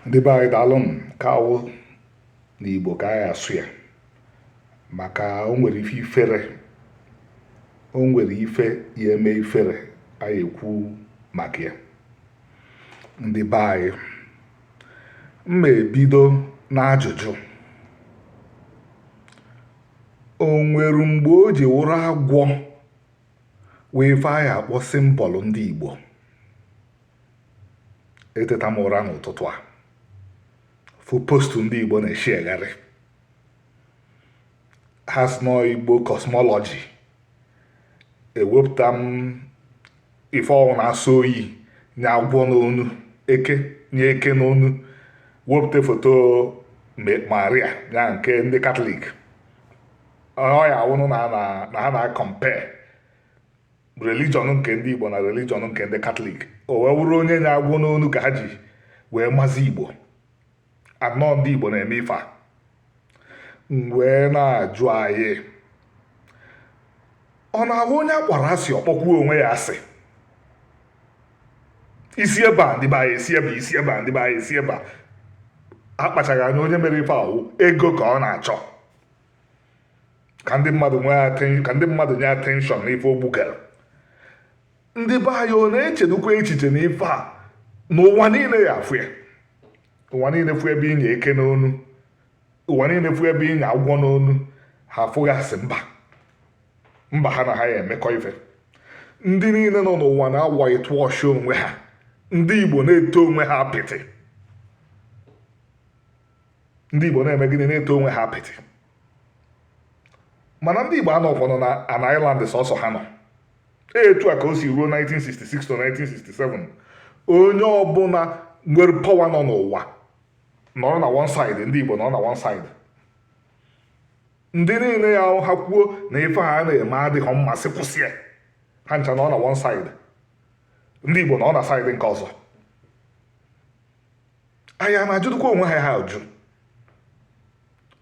ndị be anyị daalụ nke a wụ na igbo ka a ya asụ ya maka o nwere ife ifere o nwere ife ya eme ifere anyị ekwu maka ya ndị be anyị m ma ebido n'ajụjụ o nwere mgbe o ji wụrụ agwọ wụ ife a ya akpọ symbol ndị igbo eteta m ụra n'ụtụtụ a fụ postu ndị Igbo na-esheagharị ha sị na ọ Igbo cosmology ewepụta ụmụ ife ahụ na-asọ oyi nya agwọ n'onu eke nya eke n'onu wepụta foto maria ya nke ndị katọlik ya wụnụ na ha na-acompare religion nke ndị Igbo na religion nke ndị Katọlik o wee wụrụ onye nya agwọ n'onu ka ha ji wee mazi Igbo na ọ ndị Igbo na-eme ife a wee na-ajụ anyị ọ na-awụ onye akpọrọ asị ọ kpọkwuo onwe ya asị isi ebe a ndị be anyị esi ebe isi ebe a ndị be anyị esi ebe a akpachaghị anya onye mere ife ahụ ego ka ọ na-achọ ka ndị mmadụ nye attention n'ife o bugara ndị be anyị ọ na-echedukwa echiche na ife a na ụwa niile ya afụ ya ụwa niile fụ ebe i nya eke n'onu ụwa niile fụ ebe i nya agwọ n'onu ha afụ gị as mba mba ha na ha ya emekọ ife ndị niile nọ n'ụwa na-awhitewash onwe ha ndị igbo na-ete onwe ha apịtị ndị Igbo na-eme gịnị na-ete onwe ha apịtị mana ndị Igbo anọghịkwanụ na an island sọsọ ha nọ etu a ka o si ruo 1966 to 1967 onye ọbụla nwere power nọ n'ụwa nọrọ na one side ndị Igbo nọrọ na one side ndị niile ya ha kwuo na ife ha na-eme adịghị mma sị kwụsị ya ha ncha nọ na one side ndị Igbo nọ na side nke ọzọ anyị a na-ajụdụkwa onwe anyị ajụ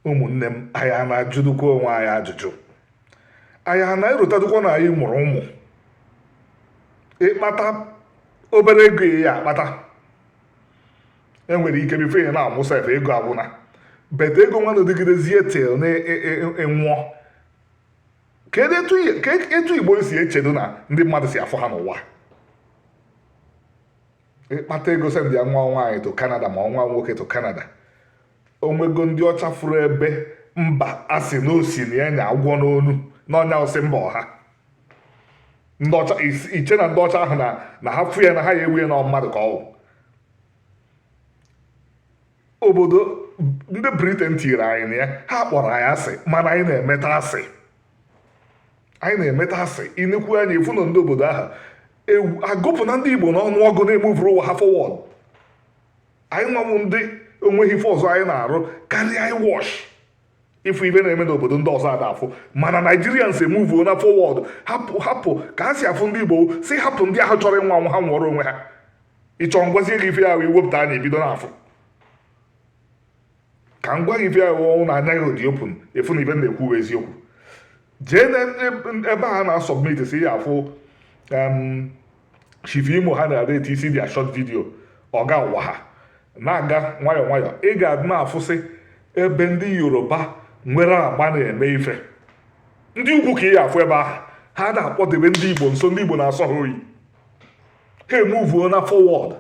ụmụnne m anyị a na-ajụdụkwa onwe anyị ajụjụ anyị a na-erotadụkwa na anyị mụrụ ụmụ ị kpata obere ego ị ya akpata e nwere ike before ị na-anwụ sef ego agwụna but ego nwa na dịgidezie till ị nwụọ kedu etu igbo si echedu na ndị mmadụ si afụ ha n'ụwa ịkpata ego sendịa nwa nwaanyị to Canada ma nwa nwoke to Canada onwego ndị ọcha fụrụ ebe mba asị na osi na ya nya agwọ n'onu n'ọnya ọsị mba ọha iche na ndị ọcha ahụ na ha fụ ya na ha ya ewe ya na mmadụ ka ọ wụ obodo ndị Britain tiri anyị na ya ha kpọrọ anyị asị mana anyị na-emeta asị anyị na-emeta asị inekwu anya ị fụ na ndị obodo ahụ agụpụna ndị igbo n'ọnụ ọgụ na-emuvuru ụwa ha forward anyịnwa wụ ndị onweghị ife ọzọ anyị na-arụ karịa anyị watch ịfụ ife na-eme n'obodo ndị ọzọ ada afụ mana Nigerians emuvuona forward hapụ ka ha si afụ ndị igbo si hapụ ndị ahụ chọrọ ịnwụ anwụ ha nwụọrọ onwe ha ị chọọ m gwazie gị ife ahụ iwepụta anya i bido na-afụ ka m gwa gị ife ahụ ọ wụ na anya gị dị open ị fụ na ife na-ekwu eziokwu jee na ebe a na-asọbmit si ya afụ chief imo ha na-ada eti isi dị a short video ọ gawa ha na-aga nwayọọ nwayọọ ị ga-adị na-afụsị ebe ndị yoruba nwere agba na-eme ife ndị ugwu ka ị ya afụ ebe ahụ ha na-akpọdebe ndị igbo nso ndị igbo na-asọ ha oyi ha emuvuona forward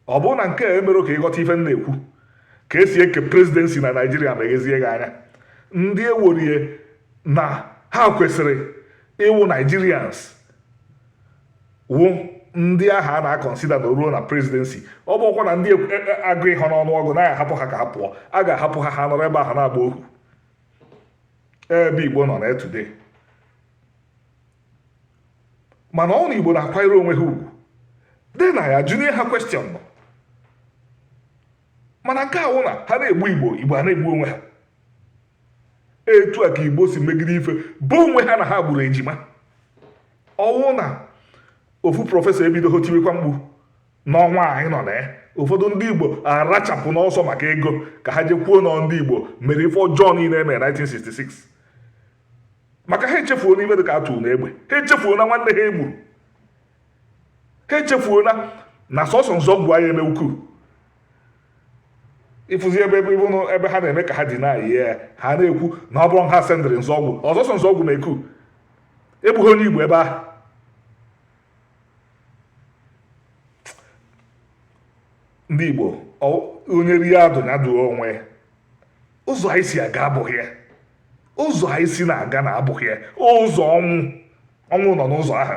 ọ bụrụ na nke a emerọ ka ịghọta ife m na-ekwu ka esi eke presidency na naijiria meghezie gị anya ndị e weere na ha kwesịrị ịwụ Nigerians wụ ndị ahụ a na-akọnsida na ruo na presidency ọ bụkwa na ndị agụhọ n'ọnụ ọgụ na ahapụ ha ka ha pụọ a ga-ahapụ ha ha nọrọ ebe ahụ na-agba ohu ebe igbo nọ na today mana ọ na igbo na-akwanyere onwe ha ugwu dị na ya jụnye ha question nọ mana nke awụ na ha na-egbu igbo igbo a na-egbu onwe ha etu a ka igbo si megide ife bụ onwe ha na ha gburu ejima ọwụ na ofu professor ebidoho tiwekwa mkpu n'ọnwa anyị nọ na ya ụfọdụ ndị igbo arachapụ n'ọsọ maka ego ka ha je kwuo na ndị igbo mere ife ọjọọ niile emere 1966 maka ha echefuona ibe dị ka Arthur Unegbe ha echefuona nwanne ha egburu ha echefuona na sọsọ Nzeogwu anyị eme coup ịfụzi ebe ebe ịbụnụ ebe ha na-eme ka ha dị na-ayị ya ha na-ekwu na ọ bụrụ ha sendịrị Nzeogwu ọ sọsọ Nzeogwu mee coup egbughị onye igbo ebe ahụ ndị igbo onye rie adụ ya dụọ onwe ụzọ anyị si aga abụghị ya ụzọ anyị si na-aga na abụghị ya ụzọ ọnwụ ọnwụ nọ n'ụzọ ahụ